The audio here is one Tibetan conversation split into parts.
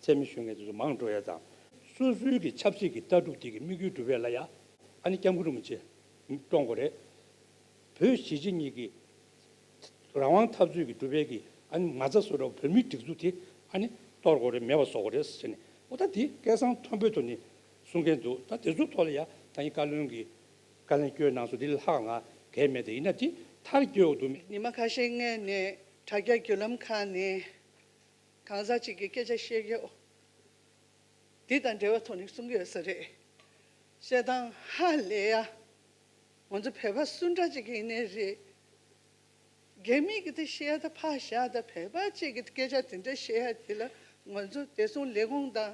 ཚད་མེད་ཤོད་མཁན་དེ་ཚོ་མང་འགྲོ་ཡ་དང། སོ་སོའི་གི་ཆབ་སྲིད་གི་ལྟ་གྲུབ་དེ་གི་དམིགས་ཡུལ་འགྲུབ་ཡ་ལ་ཡ། ཨ་ནི་སྐྱབས་མགོན་རིན་པོ་ཆེ། སྤྲོ་མགོ་རེད། བོད་གཞིས་བྱེས་གཉིས་གི། རང་དབང་འཐབ་རྩོད་གི་འགྲུབ་པའི་གི་ཨ་ནི་ང་ཚ་སོ་འདྲ་བོ་བོད་མིའི་སྒྲིག་འཛུགས་དེ་ཨ་ནི་གཏོར་དགོ་རེད་མེད་པ་བཟོ་དགོ་རེད་ཟེར་ནས་ཨོ་ད་དེ་སྐད་གསང་མཐོན་པོའི་ཐོག་ནས་གསུང་མཁན་འདུག་ད་དེ་ཚོའི་ཐོག་ལ་ཡ་ད་ཡིན་བཀའ་བློན་གི་བཀའ་ལན་བསྐྱོན་གནང་སོང་དེ་ལས་ལྷག་ང་གལ་མེད་ད་ཡིན་ན་དེ་མཐར་སྐྱོ་འདུག་མི། ཉི་མ་ཁ་ཤས་སྔས་ནས་དྲ་རྒྱ་བརྒྱུད་ལམ་ཁག་ནས། གང་ཟག་ཅིག་གི་སྐད་ཆ་བཤད་རྒྱུ་འདི་དང་འབྲེལ་བ་ཐོག་ནས་གསུང་གི་ཡོད་ས་རེད། བཤད་སྟངས་ཧ་ལས་ཡ། ང་ཚོ་བོད་པ་སུ་འདྲ་ཅིག་ཡིན་ནི་རེད། རྒྱ་མི་གི་དེ་བཤད་ད་ཕག་བཞག་ད་བོད་པ་ཅིག་གི་སྐད་ཆ་དེ་འདྲ་བཤད་ཡ་དེ་ལ་ང་ཚོ་བདེ་སྲུང་ལས་ཁུངས་དང།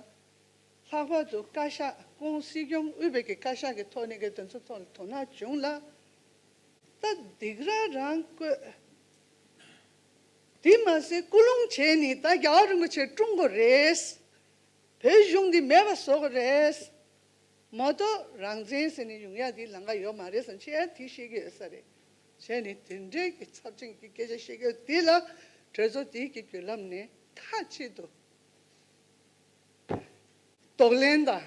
ལྷག་པར་དུ་བཀའ་ཤག་ཀུང་སི་སྐྱོང་དབུས་བོད་ཀྱི་བཀའ་ཤག་གི་ཐོག་ནས་གི་དོན་ཚོ་ཐོག་ནས་དོ་སྣང་བྱུང་ལ། ད་སྡིག་ར་རང་བཀོད། དེ་མ་ཟད་སྐུ་རླུང་བྱེད་ནི་ད་རྒྱ་རིན་པོ་ཆེ་ཀྲུང་གོ་རེད། བོད་གཞུང་འདི་མེད་པ་བཟོ་གི་རེད། མ་གཏོགས་རང་བཙན་ཟེར་ནས་ཡུང་ཡ་འདིའི་ལང་ཀ་ཡོད་མ་རེད་བསམ་ཤེས་ཡ་དེ་ཤེས་ཀྱི་ཡོད་ས་རེད། བྱས་ནས་དེ་འདྲའི་གི་ཚབ་ཅན་གྱི་སྐད་ཆ་བཤད་ཀྱི་ཡོད་དེ་ལ་གྲོས་ཚོགས་དེའི་གི་བརྒྱུད་ལམ་ནས་ཐག་གཅད་དུ། དོགས་ལན་དང།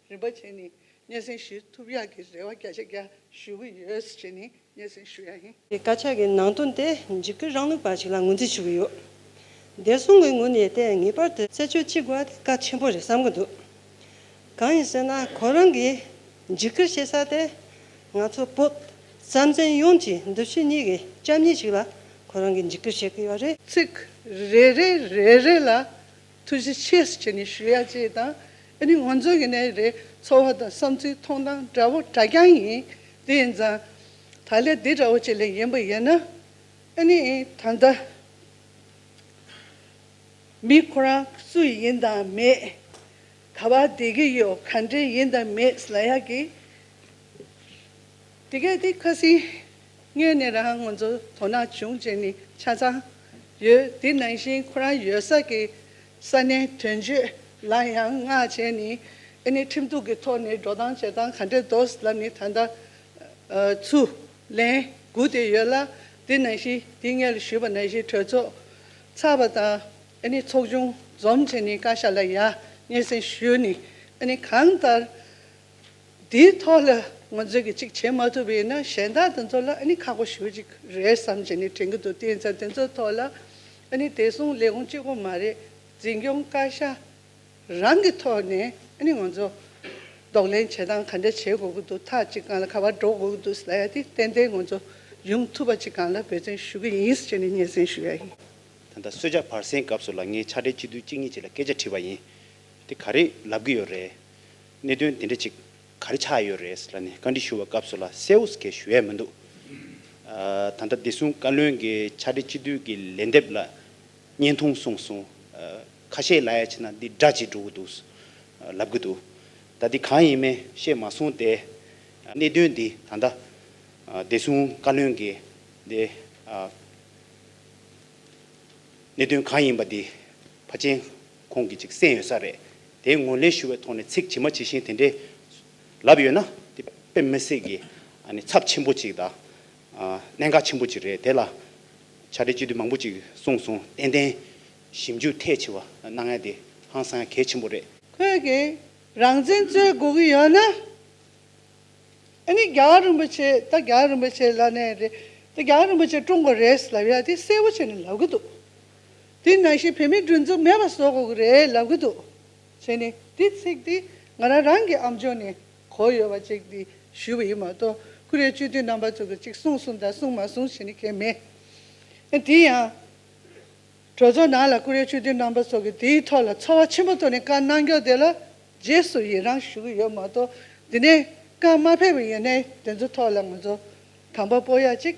རིན་པོ་ཆེ་ནི་སྙན་སེང་ཞུ་ཐུབ་ཡག་གི་རེ་བ་བརྒྱ་ཆ་བརྒྱ་ཞུ་གི་ཡོད་ཟེར་བྱས་ནས་སྙན་སེང་ཞུ་ཡག་ཡིན། དེ་དཀར་ཆག་གི་ནང་དོན་དེ་འཇིགས་སྐུལ་རང་ལུགས་པ་ཞིག་ལ་ངོས་འཛིན་ཞུ་གི་ཡོད། བདེ་སྲུང་གི་ངོས་ནས་བལྟས་ངེས་པར་དུ་རྩད་གཅོད་ཅི་དགོས་དེ་དཀའ་ཆེན་པོ་རེད་བསམ་གྱི་འདུག་གང་ཡིན་ཟེར་ན་ཁོ་རང་གིས་འཇིགས་སྐུལ་བྱེད་ས་དེ་ང་ཚོ་བོད་རྩ་མཚན་ཡོངས་ཀྱི་འདུ་ཤེས་གཉིས་ཀྱི་རྐྱང་གཉིས་ཞིག་ལ་ཁོ་རང་གིས་འཇིགས་སྐུལ་བྱེད་ཀྱི་ཡོད་རེད། ཚིག་རེ་རེ་རེ་རེ་ལ་ཐུགས་རྗེ་ཆེ་ཁྱེད་ནི་ཞུ་ཡག་ཅེས་དང་ཨ་ནི་ངོ་མཚོན་གྱི་ནས་རེད་ཚོར་བ་དང་བསམ་ཚུལ་མཐོང་སྟངས་འདྲ་བོ་འདྲ་རྐྱང་ཡིན་དེ་ཡིན་ཙང། ད་ལས་འདི་འདྲ་བོ་ཅིག་ལས་ཡིན་པ་ཡིན་ན། ཨ་ནི་ད་ལྟ། མི་ཁོ་རང་སུ་ཡིན་དང་མེད། ག་བར་བསྡད་ཀྱི་ཡོད་ག་འདྲས་ཡིན་དང་མེད་ལ་ཡག་གི། དེ་གས་དེ་ཁ་སིང། དངོས་གནས་རང་ངོ་ཚོ་དོ་སྣང་བྱུང་རྗེས་ནི་ཆ་ཚང་ཡོད། དེ་ནང་བཞིན་ཁོ་རང་ཡོད་ས་ཀྱི་ས་གནས་དོན་གཅོད་ལ་ཡང་མངགས་བྱས་ནས་ཨེ་ནི་ཁྲིམས་གཏུག་གི་ཐོག་ནས་འགྲོ་སྟངས་བྱེད་སྟངས་ག་འདྲས་འདོག་ལབ་ནི་ད་ལྟ་ཚུར་ལན་སྒུག་བསྡད་ཡོད་ལ། དེ་ནང་བཞིན་དེ་སྔའི་ལ་ཞུས་པ་ནང་བཞིན་གྲོས་ཚོགས་ཚར་བ་དང་ཨེ་ནི་ཚོགས་ཆུང་འཛོམས་རྗེས་ནི་བཀའ་ཤག་ལ་ཡང་སྙན་སེང་ཞུས་ནས་ཨེ་ནི་གང་ལྟར་དེའི་ཐོག་ལ་ང་ཚོས་གི་གཅིག་བྱེད་མ་ཐུབ་པ་ཡིན་ན་གཞན་དག་དེ་ཚོ་ལ་ཨ་ནི་ཁག་པོ་ཞུ་གཅིག་རེད་བསམ་བྱས་ནས་དྲན་གི་འདུག་དེ་མཚམས་དེ་ཚོའི་ཐོག་ལ་ཨ་ནི་དེ་སོང་ལས་ཁུངས་གཅིག་པོ་མ་རེད་འཛིན་སྐྱོང་བཀའ་ཤག་རང་གི་ཐོག་ནས་ཨ་ནི་ང་ཚོ་ལྡོག་ལེན་བྱེད་སྟངས་ག་འདྲ་བྱེད་དགོས་གི་འདུག་ཐག་གཅིག་གང་ལ་ག་བར་འགྲོ་དགོས་གི་འདུག་ཟེར་ཡ་དེ་ཏན་ཏན་ང་ཚོ་ཡོང་ཐུབ་པ་གཅིག་གང་ལ་འབད་བརྩོན་ཞུ་གི་ཡིན་ཟེར་ནས་སྙན་སེང་ཞུ་ཡ་ཡིན། ད་ལྟ་གསོལ་ཇ་བར་གསེང་སྐབས་སུ་ལ་ངའི་ཕྱག་སྦྲེལ་གཅིག་བསྡུས་གཅིག་གཉིས་བྱེད་ལ་སྐད་ཆ་དྲིས་པ་ཡིན། དེ་ག་རེ་ལབ་གི་ཡོད་རེད། གནད་དོན་དེ་འདྲ་ཅིག་ག་རེ་ཆགས་ཡོད་རེད་ལ་ནི་བཀའ་འདྲི་ཞུ་བའི་སྐབས་སུ་ལ་གསལ་བོ་གས་ཞུ་ཡས་མི་འདུག་ད་ལྟ་བདེ་སྲུང་བཀའ་བློན་གྱི་ཕྱག་བྲིས་སྤྱི་འཐུས་ཀྱི་ལན་འདེབས་ལ་བརྙན་ཐུང་གསུངས་སོང་ཁ་ཤས་ལ་ཡ་བྱས་ན་འདི་སྒྲ་ཇི་འགྲོ་གི་འདུག་ལབ་གི་འདུག་ད་འདི་གང་ཡིན་མིན་ཤེས་མ་སོང་སྟེ། གནད་དོན་འདི་ད་ལྟ་བདེ་སྲུང་བཀའ་བློན་གྱི་འདི་གནད་དོན་གང་ཡིན་པ་འདི་ཕ་ཆེན་ཁོང་གིས་ཅིག་གསན་ཡོད་ས་རེད། དེའི་ངོས་ལེན་ཞུ་བའི་ཐོག་ནས་ཚིག་ཇི་མ་ཇི་བཞིན་དེ་འདྲའི་ལབ་ཡོད་ན་དེ་དཔེ་མི་སྲིད་ཀྱི་ཚབས་ཆེན་པོ་ཅིག་དང། གནད་འགག་ཆེན་པོ་ཅིག་རེད་དེ་ལ་བྱ་སྤྲེལ་སྤྱི་འཐུས་མང་པོ་ཅིག་གསུངས་སོང་ཏན་ཏན་ཞིབ་འཇུག་ཐད་ཆེ་བ་གནང་ཡ་དེ་ཧང་སང་ཡ་གལ་ཆེན་པོ་རེད། ཁོས་ཀྱི་རང་བཙན་རྩོད་དགོས་ཀྱི་ཡོད་ན། ཨ་ནི་རྒྱ་གར་རིན་པོ་ཆེ་ད་རྒྱ་གར་རིན་པོ་ཆེ་ལ་ནས་རེད་དེ་རྒྱ་གར་རིན་པོ་ཆེ་ཀྲུང་གོ་རེད་ལབ་ཡ་དེ་གསལ་བོ་བྱས་ནས་ལབ་ཀྱི་འདུག། དེ་ནང་བཞིན་བོད་མིའི་སྒྲུང་རྩོམ་མེད་པ་བཟོ་དགོས་ཀྱི་རེད་ལབ་ཀྱི་འདུག་བྱས་ནས། དེའི་ཚིག་དེ་ང་རང་རང་གི་ཨམ་ཆོས་ནས་གོ་ཡོད་པ་ཅིག་དེ་ཞུས་པ་ཡིན་མ་གཏོགས་ཀུ་རེ་གཅོད་དུས་རྣམ་པ་ཚོ་གི་ཅིག་གསུངས་གསུངས་དང་གསུངས་མ་གསུངས་བྱེད་ནི་མཁན་མེད། དེ་ཡང། གྲོས་ཚོགས་ནང་ལ་ཀུ་རེ་གཅོད་དུས་རྣམ་པ་ཚོ་གི་དེའི་ཐོག་ལ་ཚོར་བ་ཆེན་པོ་ཐོག་ནས་བཀའ་གནང་སྐྱོང་དེ་ལ་རྗེས་སུ་ཡི་རང་ཞུ་གི་ཡོད་མ་གཏོགས་དེ་ནས་བཀའ་མ་ཕེབས་པ་ཡིན་ནའི་དེ་ཚོ་ཐོག་ལ་ང་ཚོ་དམ་པ་པོ་ཡག་ཅིག